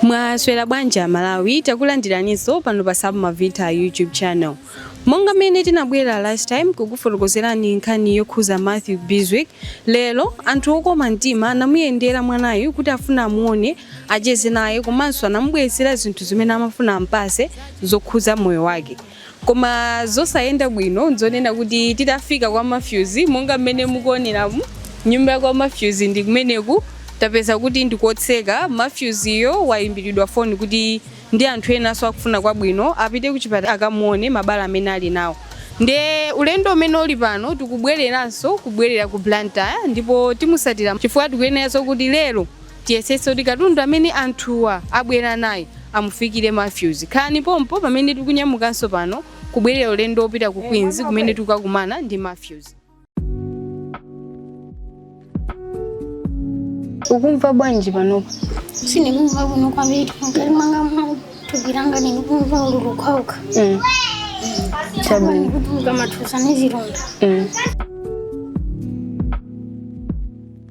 Mwaswera bwanji a Malawi, takulandiraninso pano pa Sub Mavita YouTube channel. Monga mmene tinabwera last time kukufotokozerani nkhani yokhuza Matthew Biswick, lero anthu okoma mtima anamuyendera mwanayu kuti afuna amuone, acheze naye komanso anamubweretsera zinthu zimene amafuna ampase zokhuza moyo wake. Koma zosayenda bwino nzonena kuti titafika kwa Mathews monga mmene mukuoneramu nyumba yakwa Mathews ndi kumeneku tapeza kuti ndikotseka Mathews yo waimbilidwa phone kuti ndi anthu enanso akufuna kwabwino apite kuchipatala akamuone mabala amene ali nawo nde ulendo umene uli pano tikubweleranso kubwelera ku Blantyre ndipo timusatira chifukwa tikuyeneranso kuti lero Tiyesetse kuti katundu amene anthuwa abwera naye amufikire Mathews. Khalani pompo pamene tikunyamukanso pano kubwerera ulendo wopita ku Queens kumene tikakumana ndi Mathews. Ukumva bwanji panopa? Sindikumva bwino kwambiri mkati mwanga mwa thupi langa ndikumva ululu kwauka. Mm. Chabwino. Ndikutuluka matuza ndi zilonda. Mm.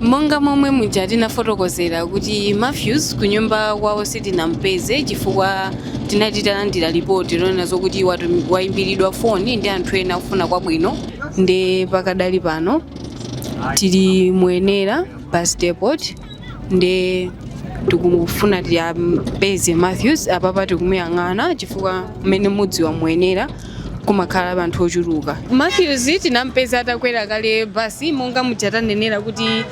monga momwe muja tinafotokozera kuti Matthews kunyumba kwawo sitinampeze chifukwa tinati talandira lipoti lonena zokuti waimbiridwa foni ndi anthu ena akufuna kwabwino nde pakadali pano tili mu Wenela bus depot nde tikufuna tiyampeze Matthews apapa tikumuyang'ana chifukwa mmene mudziwa mu Wenela kumakhala anthu ochuluka. Mathews tinampeza atakwera kale bus monga muja tanenera kuti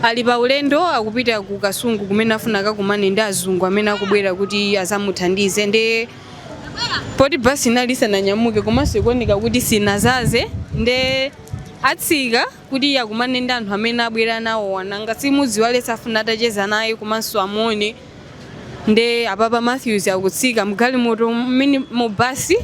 ali pa ulendo akupita ku Kasungu kumene afuna akakumane ndi azungu amene akubwera kuti azamuthandize nde poti bus inali isananyamuke komanso ikuoneka kuti sinazaze nde atsika kuti akumane ndi anthu amene abwera nawowa nanga simudziwa aliyense afuna atacheza naye komanso amuone nde apapa Matthews akutsika mgalimoto mmini basi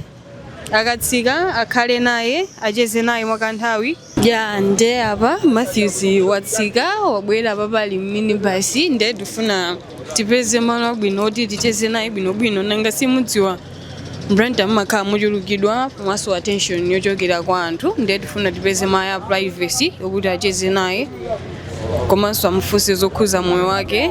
akatsika akhale naye acheze naye mwakanthawi ya nde apa Matthews watsika wabwera apapa ali mmini basi nde tifuna tipeze malo abwino oti ticheze naye bwinobwino nanga simudziwa Blantyre mumakhala mochulukidwa komanso attention yochokera kwa anthu ndiye tifuna tipeze malo a privacy okuti acheze naye komanso amufunse zokhuza moyo wake.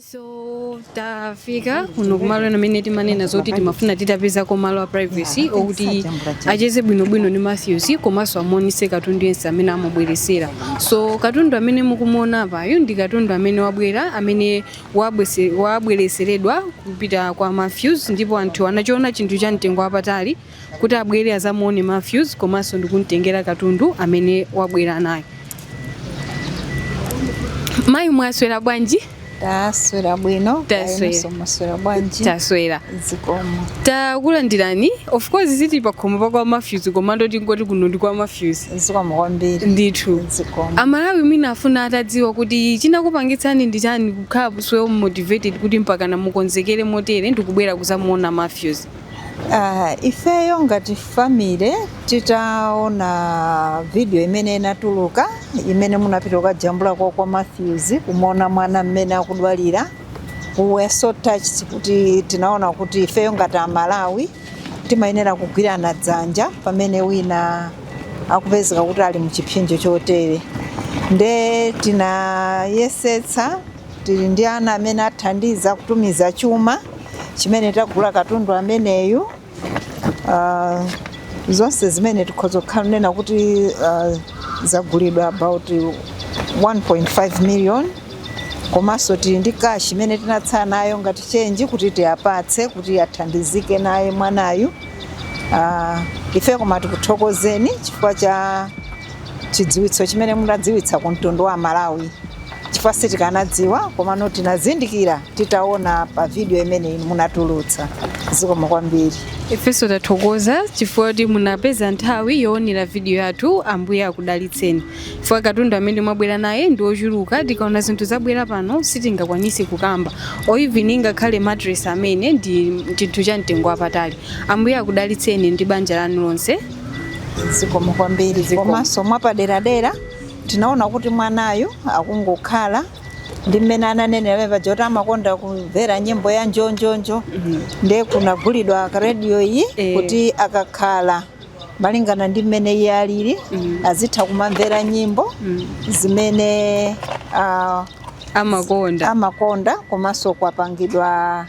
so tafika kuno kumalo ena amene timanena zoti timafuna titapezako malo a privacy okuti acheze bwinobwino ndi matthews komanso amuonise katundu yense amene amubweresera so katundu amene mukumuona apayu ndi katundu amene wabwera amene wabwese- wabwereseredwa kupita kwa matthews ndipo anthu anachiona chinthu cha mtengo wapatali kuti abwere azamuone Mathews komanso ndikumtengera katundu amene wabwera naye. Mayi mwaswera bwanji? taswera bwino taswera bwanji taswera zikomo takulandirani of course ziti pakhomo pakwa Mathews komano tingoti kuno ndi kwa Mathews zikomo kwambiri ndithu zikomo amalawi mwina afuna atadziwa kuti chinakupangitsani ndi chani kukhala so motivated kuti mpaka na mukonzekere motere ndikubwera kuzamuona Mathews Uh, ifeyo ngati family titaona video imene inatuluka imene munapita kukajambula kwa kwa Matthews kumuona mwana mmene akudwalira we were so touched kuti tinaona kuti ifeyo ngati amalawi timayenera kugwirana dzanja pamene wina akupezeka kuti ali muchipsinjo chotere nde tinayesetsa Tili ndi ana amene athandiza kutumiza chuma chimene tagula katundu ameneyu. Uh, zonse zimene tikhoza kukhala nena kuti uh, zagulidwa about 1.5 million komanso tili ndi cash imene tinatsala nayo ngati chenji kuti tiyapatse kuti athandizike naye mwanayu. Uh, ife koma tikuthokozeni chifukwa cha chidziwitso chimene munadziwitsa ku mtundu wa Malawi chifukwa sitikanadziwa komano tinazindikira titaona pa video imene munatulutsa zikomo kwambiri ifenso tathokoza chifukwa kuti munapeza nthawi yoonera vidiyo yathu ambuye akudalitseni chifukwa katundu amene mwabwera naye ndi ochuluka tikaona zinthu zabwera pano sitingakwanise kukamba even ngakhale mattress amene ndi chinthu cha mtengo wapatali ambuye akudalitseni ndi banja lanu lonse zikomo kwambiri Zikomo. komanso mwapaderadera tinaona kuti mwanayu akungokhala ndi mmene ananenera pamene paja kuti amakonda kumvera nyimbo ya njonjonjo ndiye kunagulidwa radio iyi Eh. kuti akakhala malingana ndi mmene iye alili azitha kumamvera nyimbo zimene ah, amakonda amakonda komanso kwapangidwa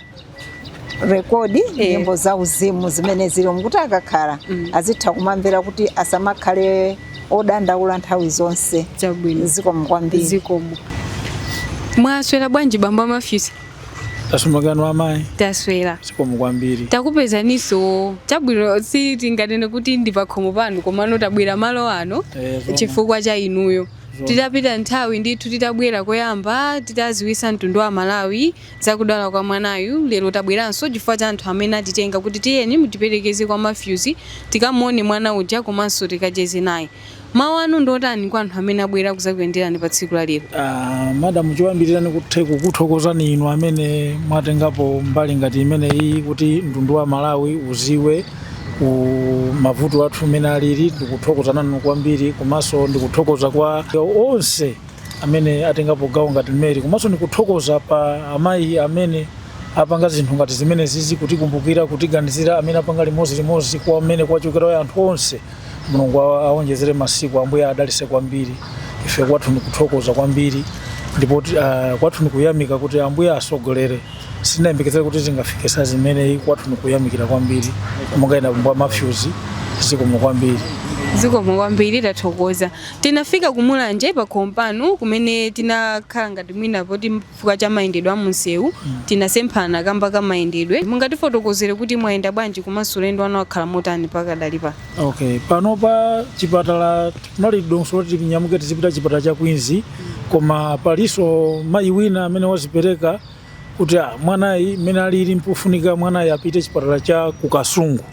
rekodi Eh. nyimbo za uzimu zimene zili kuti akakhala Mm. azitha kumamvera kuti asamakhale odandaula nthawi zonse chabwino zikomo kwambiri zikomo mwaswera bwanji bambo a Matthews taswera kaya amayi taswera zikomo kwambiri takupezaninso chabwino si tinganene kuti ndi pakhomo panu komano tabwera malo ano Eh, zoma. chifukwa cha inuyo patapita nthawi ndithu titabwera koyamba titaziwisa mtundu wa malawi Za kudwala kwa mwanayu lero tabweranso chifukwa cha anthu amene atitenga kuti tiyeni mutiperekeze kwa Mathews tikamuone mwana uja komanso tikacheze naye. Mawu anu ndi otani kwa anthu amene abwera kudzakuyenderani pa tsiku la lero? Ah, madam choyambirira ndikathe kukuthokozani inu amene mwatengapo mbali ngati imeneyi kuti mtundu wa Malawi uziwe ku mavuto athu mmene alili ndikuthokoza nanu kwambiri komanso ndikuthokoza kwa onse amene atengapo gawo ngati imeneyi komanso ndikuthokoza pa amayi amene apanga zinthu ngati zimenezizi kutikumbukira kutiganizira amene apanga limodzi limodzi kwa mmene kwachokera anthu onse mulungu awa- awonjezere masiku ambuye adalitse kwambiri ife kwathu ndikuthokoza kwambiri ndipo ti- ah, kwathu ndikuyamika kuti ambuye asogolere sinayembekezere kuti zingafike saizi zimeneyi kwathu ndikuyamikira kwambiri monga ine bambo a Matthews zikomo kwambiri zikomo kwambiri tathokoza Tinafika ku Mulanje pakhomo panu kumene tinakhala ngati mwina poti chifukwa cha mayendedwe a munsewu tinasemphana kamba ka mayendedwe. Mungatifotokozere kuti mwayenda bwanji komanso ulendo wanu wakhala motani pakadali pano? Okay, panopa chipatala kunali dongosolo loti tinyamuke tizipita chipatala cha Queens koma paliso mayi wina amene wazipereka kuti ah, mwanayu mmene alili mpofunika mwanayu apite chipatala cha ku Kasungu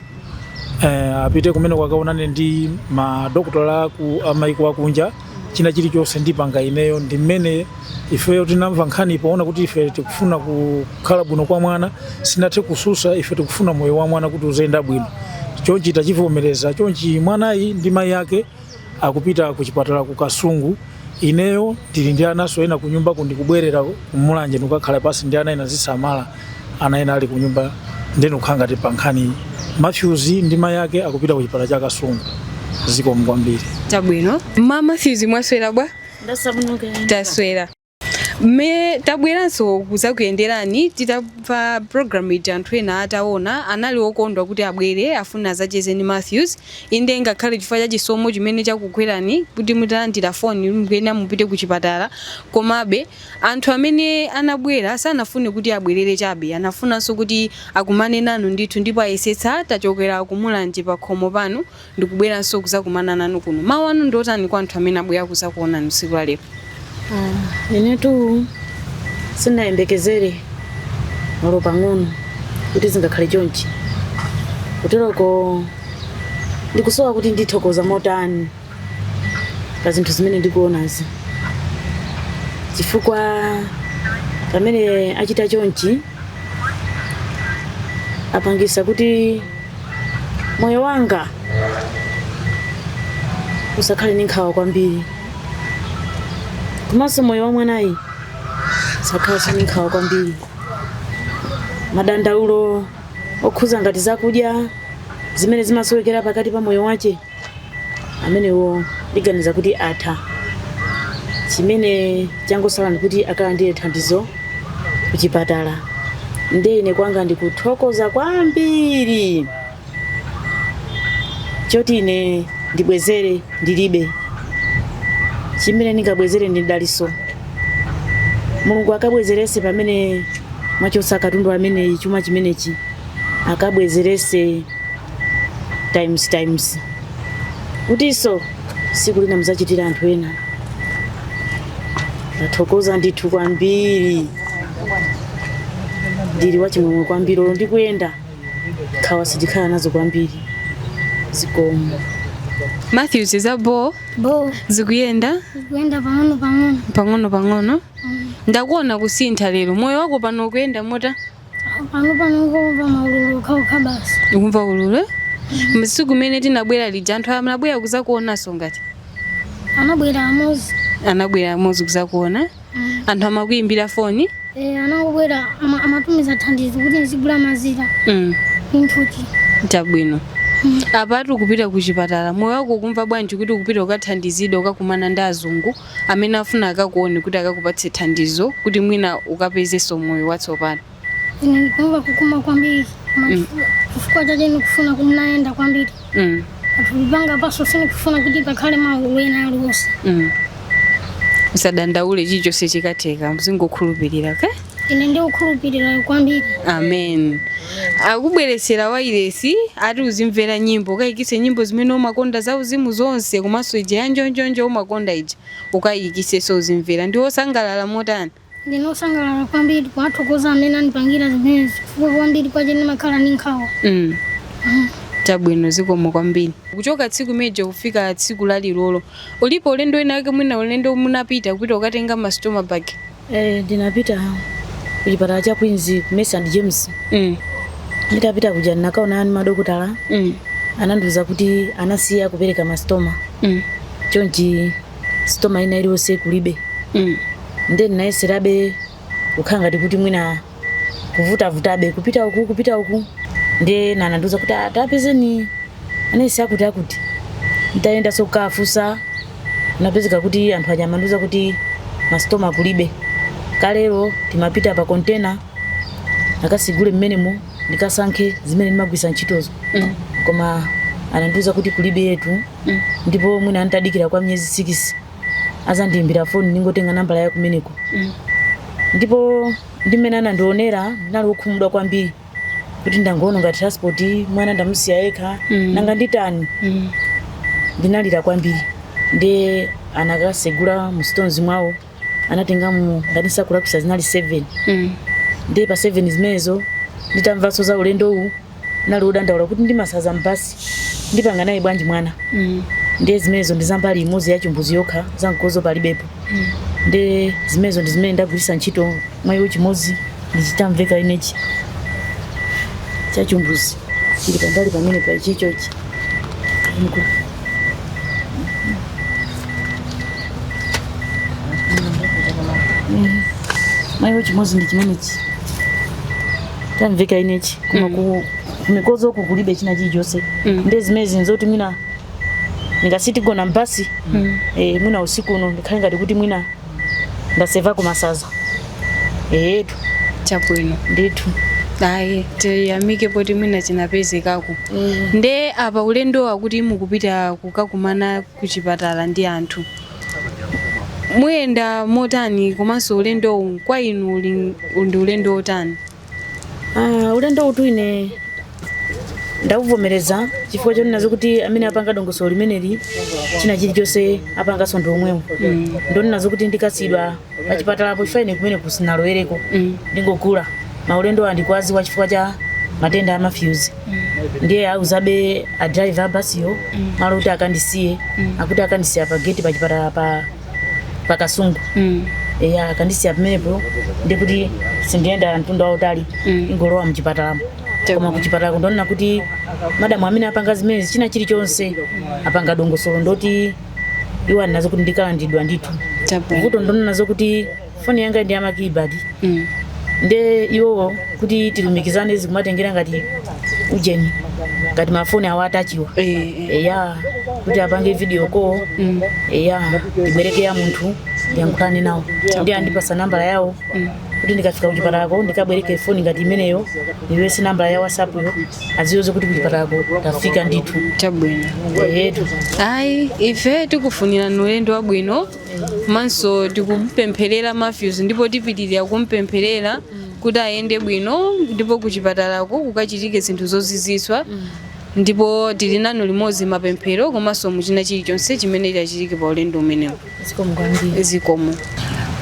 eh, apite kumene akaonane ndi madokotala aku amaiko akunja china chilichonse ndipanga ineyo nde mmene ifeyo tinamva nkhani poona kuti ife tikufuna kukhala bwino kwa mwana sinathe kususa ife tikufuna moyo wa mwana kuti uziyenda bwino chonchi tachivomereza chonchi mwanayu ndi mayi ake akupita ku chipatala ku Kasungu ineyo tili ndi ananso ena ku nyumba ndikubwerera ku Mulanje ndikukakhala pansi ndi ana ena nzisamala ana ena ali ku nyumba nde ndikukhala ngati pa nkhani Matthews ndi mayi ake akupita ku chipatala cha Kasungu zikomo kwambiri. Chabwino. Mama Matthews mwaswera bwa? Ndasabunuka. Taswera. Mme tabweranso kuzakuyenderani titamva program ija anthu ena ataona anali okondwa kuti abwere afune azacheze ndi Mathews inde ngakhale chifukwa cha chisomo chimene chakugwerani kuti mutalandira phone mukuyenera mupite ku chipatala komabe anthu amene anabwera sanafune kuti abwerere chabe anafunanso kuti akumane nanu ndithu ndipo ayesetsa tachokera ku Mulanje pakhomo panu ndikubweranso kuzakumana nanu kuno mawu anu ndiotani kwa anthu amene abwera kuzakuonani tsiku la lero Ah, inetu sindinayembekezere olo pang'ono kuti zingakhale chonchi kuteroko ndikusowa kuti ndithokoza motani pa zinthu zimene ndikuonazi chifukwa pamene achita chonchi apangisa kuti moyo wanga usakhale ndi nkhawa kwambiri komanso moyo wa mwanayi usakhalanso ndi nkhawa kwambiri madandaulo okhuza ngati zakudya zimene zimasowekera pakati pa moyo wace amenewo ndiganiza kuti atha chimene changosala ndikuti akalandire thandizo kuchipatala nde ine kwanga ndikuthokoza kwambiri choti ine ndibwezere ndilibe chimene ndingabwezere ndi mdaliso mulungu akabwezerese pamene mwachosa katundu ameneyi chuma chimenechi akabwezerese times times kutiso siku lina muzachitira anthu ena ndathokoza ndithu kwambiri ndili wachimwemwe kwambiri olo ndikuyenda nkhawa sindikhala nazo kwambiri zikomo matthews zabo bo zikuyenda pang'ono pang'ono ndakuona kusintha lero moyo wako pano ukuyenda mota pano pano ndingomva maululu okhaokha basi ukumva ululu eh? msiku umene tinabwera lija anthu anabwera kuzakuonanso angati anabwera amozi anabwera amozi kuzakuona anthu amakuyimbira foni e, anabwera ama- amatumiza thandizo kuti nizigula mazira mm. imfuti chabwino apatu kupita ku chipatala moyo wako ukumva bwanji kuti ukupita ukathandizidwa ukakumana ndi azungu amene afuna akakuone kuti akakupatse thandizo kuti mwina ukapezenso moyo watsopano? Ine ndikumva kukoma kwambiri koma Mm. chifukwa- chifukwa chache ndikufuna kuti ndiyende kwambiri Mm, pathupi panga pano sindikufuna kuti pakhale maululu ena aliwonse mm. usadandaule chilichonse chikatheka mzingokhulupirira okay? ine ndikukhulupirira kwambiri amen akubweresera wairesi ati uzimvera nyimbo ukayikise nyimbo zimene umakonda za uzimu zonse komanso ija ya njonjonjo umakonda ija ukayikiseso uzimvera ndiwe wosangalala motani ndine wosangalala kwambiri kuwathokoza amene andipangira zimenezi chifukwa kwambiri kwache ndimakhala ndi nkhawa mm. chabwino zikomo kwambiri kuchoka tsiku lija kufika tsiku lalero ulipo ulendo wina wake mwina ulendo munapita kupita ukatenga masitoma bag Eh, ndinapita kuchipatala cha Queens ku Mercy and James. Mm. Nditapita kuja ndinakaonana ani madokotala Mm. anandiuza kuti anasiya kupereka mastoma. Mm. Chonchi stoma ina iliyonse kulibe. Mm. Ndiye ndinayeserabe kukhala ngati kuti mwina kuvutavutabe kupita uku kupita uku nde nanandiuza kuti "Ah, tapezeni anesi akuti akuti nditayendanso kafunsa napezeka kuti anthu aja amandiuza kuti mastoma kulibe kalero timapita pa kontena akatsegule mmenemo ndikasankhe zimene ndimagwiritsa ntchitozo Mm. koma anandiuza kuti kuliberetu ndipo mwina ndidikira kwa miyezi sikisi azandiimbira foni ndingotenga nambala ya kumeneko mm. ndipo ndi mmene anandionera ndinali wokhumudwa kwambiri kuti ndangoononga transport mwana ndamusiya yekha Mm. nanga nditani Mm. ndinalira kwambiri ndiye anakatsegula mu stores mwawo anatengamo ngati sindikulakwitsa zinali 7 Mm. ndiye pa 7 zimenezo nditamvanso za ulendo uwu nali odandaula kuti ndi masanza m'basi ndipanga naye bwanji mwana mm. ndiye zimenezo ndi za mbali imodzi ya chimbudzi yokha za mkodzo palibepo mm. ndiye zimenezo ndi zimene ndagwiritsa ntchito mwanayo chimodzi ndi chi ndamuveka inechi cha chimbudzi chili pambali pamene pachichochi mwanayo chimodzi ndi chimenechi ndamuveka inechi koma Mm. ku mikodzo uku kulibe china chilichonse Mm. nde zimenezi nzoti mwina ndikachite kugona mbasi Mm. eh, mwina usiku uno ndikhale ngati kuti mwina ndaseva kumasanza eyetu chabwino ndithu ayi tiyamike poti mwina chinapezekako nde apa ulendo wakuti mukupita kukakumana ku chipatala ndi anthu muyenda motani komanso ulendowu kwa inu uli- ndi ulendo wotani Ah, ulendowutu ine ndauvomereza chifukwa chonena zokuti amene apanga dongosolo limeneli china chilichonse apanganso ndi omwewo ndonena zokuti ndikasiyidwa pachipatalapo chifukwa ine kumeneku sinalowereko ndingovula maulendo ndinakudziwa chifukwa cha matenda amafyuzi ndiye auzabe a driver a basiyo malo kuti akandisiye akuti akandisiya pa geti pachipatala pa pa Kasungu Mm. eya akandisiya pamenepo ndikuti sindiyenda mtunda wautali Mm. ndingolowa mchipatalamo koma kuchipatala ndonena kuti madamu amene apanga zimenezi china chilichonse apanga dongosolo ndoti iwo anena zokuti ndikalandilidwa ndithu vuto ndonena zokuti foni yanga ndi yamakibadi mm. nde iwowo kuti tilumikizane zikumatengera ngati ujeni ngati mafoni awo atachiwa Eh, eh. eya kuti apange video call Mm. eya ndibwereke ya munthu ndiyankhulane nawo ndi andipasa nambala yawo kuti ndikafika kuchipatalako ndikabwereke foni ngati imeneyo ndiyese nambala ya whatsapp yo adziwe kuti kuchipatalako tafika ndithu chabwino eyetu ayi ife tikufunirani ulendo wabwino komanso tikumpempherera Matthews ndipo tipitirira kumpempherera kuti ayende bwino ndipo kuchipatalako kukachitike zinthu zozizwitsa ndipo tili nanu limodzi mapemphero komanso muchina chilichonse chimene chachitike pa ulendo umenewu zikomo kwambiri zikomo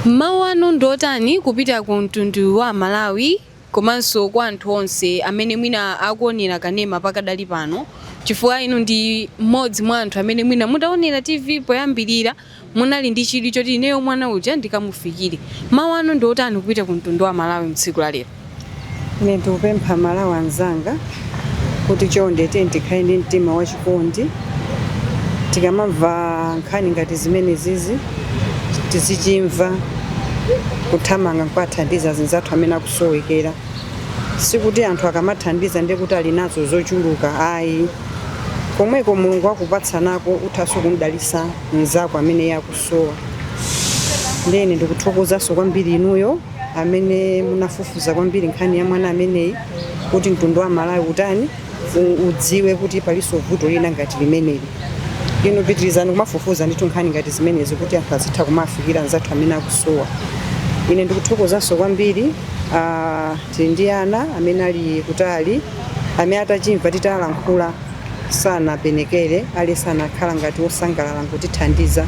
mawu anu ndiotani kupita ku mtundu wa amalawi komanso kwa anthu onse amene mwina akuonera kanema pakadali pano chifukwa inu ndi mmodzi mwa anthu amene mwina mutaonera TV poyambirira munali ndi chidwi choti ineyo mwana uja ndikamufikire. Mawu anu ndi otani kupita ku mtundu wa Amalawi mtsiku la lero? Ine ndikupempha Amalawi anzanga kuti chonde tiyeni tikhale ndi mtima wachikondi tikamamva nkhani ngati zimenezizi tizichimva kuthamanga nkuwathandiza zinzathu amene akusowekera sikuti anthu akamathandiza ndiye kuti ali nazo zochuluka ayi komweko mulungu wakupatsa nako uthanso kumdalisa mnzako amene iye akusowa ndiyeni ndikuthokozanso kwambiri inuyo amene munafufuza kwambiri nkhani ya mwana ameneyi kuti mtundu wa malawi utani udziwe kuti palinso vuto lina ngati limeneli inu pitirizani kumafufuza ndithu nkhani ngati zimenezi kuti anthu azitha kumafikira anzathu amene akusowa ine ndikuthokozanso kwambiri ah, tili ndi ana amene ali kutali amene atachimva titalankhula sanapenekere ali sanakhala ngati osangalala nkutithandiza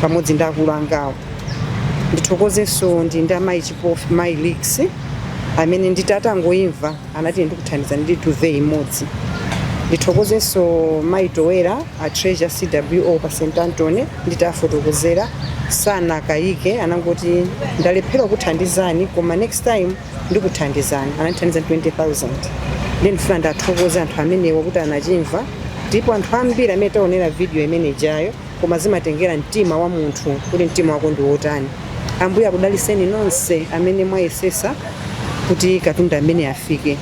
pamodzi ndi akulu angawo Ndithokozenso ndi ndi amayi Chipofu, mayi Leaks amene nditi atangoimva anati ndikuthandizani ndi duve imodzi. Ndithokozenso mayi Towera a Treasure CWO pa St Anthony nditafotokozera sanakayike anangoti ndalephera kuthandizani koma next time ndikuthandizani anandithandiza 20,000 ndiye ndifuna ndathokoza anthu amenewa kuti anachimva ndipo anthu ambiri amene taonera video imene ijayo koma zimatengera mtima wa munthu kuti mtima wako ndi wotani ambuye akudaliseni nonse amene mwayesesa kuti katundu amene afike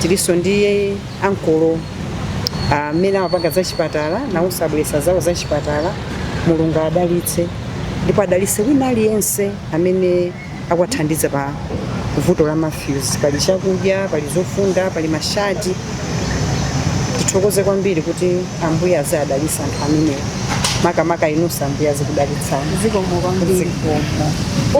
tilinso ndi ankolo amene amapanga za chipatala nawonso abweresa zawo za chipatala mulungu adalitse ndipo adalitse wina aliyense amene akuwathandiza pa vuto la Matthews. Pali chakudya, pali zofunda, pali mashati. Tithokoze kwambiri kuti Ambuye aziwadalitsa anthu amenewa, makamaka inunso Ambuye azikudalitsani. Zikomo kwambiri. Zikomo.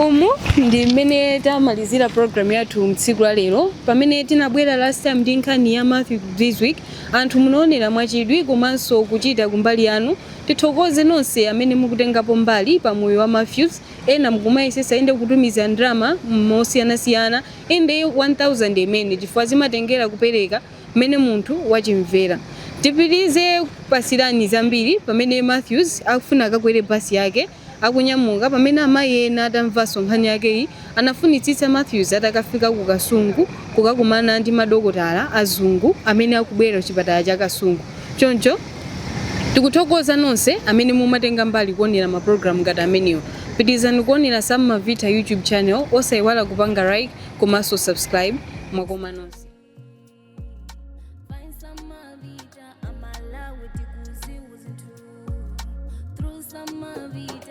umu ndi mmene tamalizira program yathu mtsiku la lero pamene tinabwera last time ndi nkhani ya matthew this week anthu munaonera mwachidwi komanso kuchita kumbali yanu tithokoze nonse amene mukutengapo mbali pa moyo wa matthews ena mkumayesesa inde kutumiza ndalama mosiyana siyana inde 1000 imene chifukwa zimatengera kupereka mmene munthu wachimvera tipitilize kupatsirani zambiri pamene Mathews akufuna akakwere bus yake akunyamuka pamene amayi ena atamvanso nkhani yakeyi anafunitsitsa Mathews atakafika ku Kasungu kukakumana ndi madokotala azungu amene akubwera kuchipatala cha Kasungu choncho Tikuthokoza nonse amene mumatenga mbali kuonera ma program ngati amenewo. Pitilizani kuonera Sam Mavitha YouTube channel osaiwala kupanga like komanso subscribe. Mwakoma nonse. Find some Mavita, I'm allowed to kuzi uzinthu. Through some Mavita.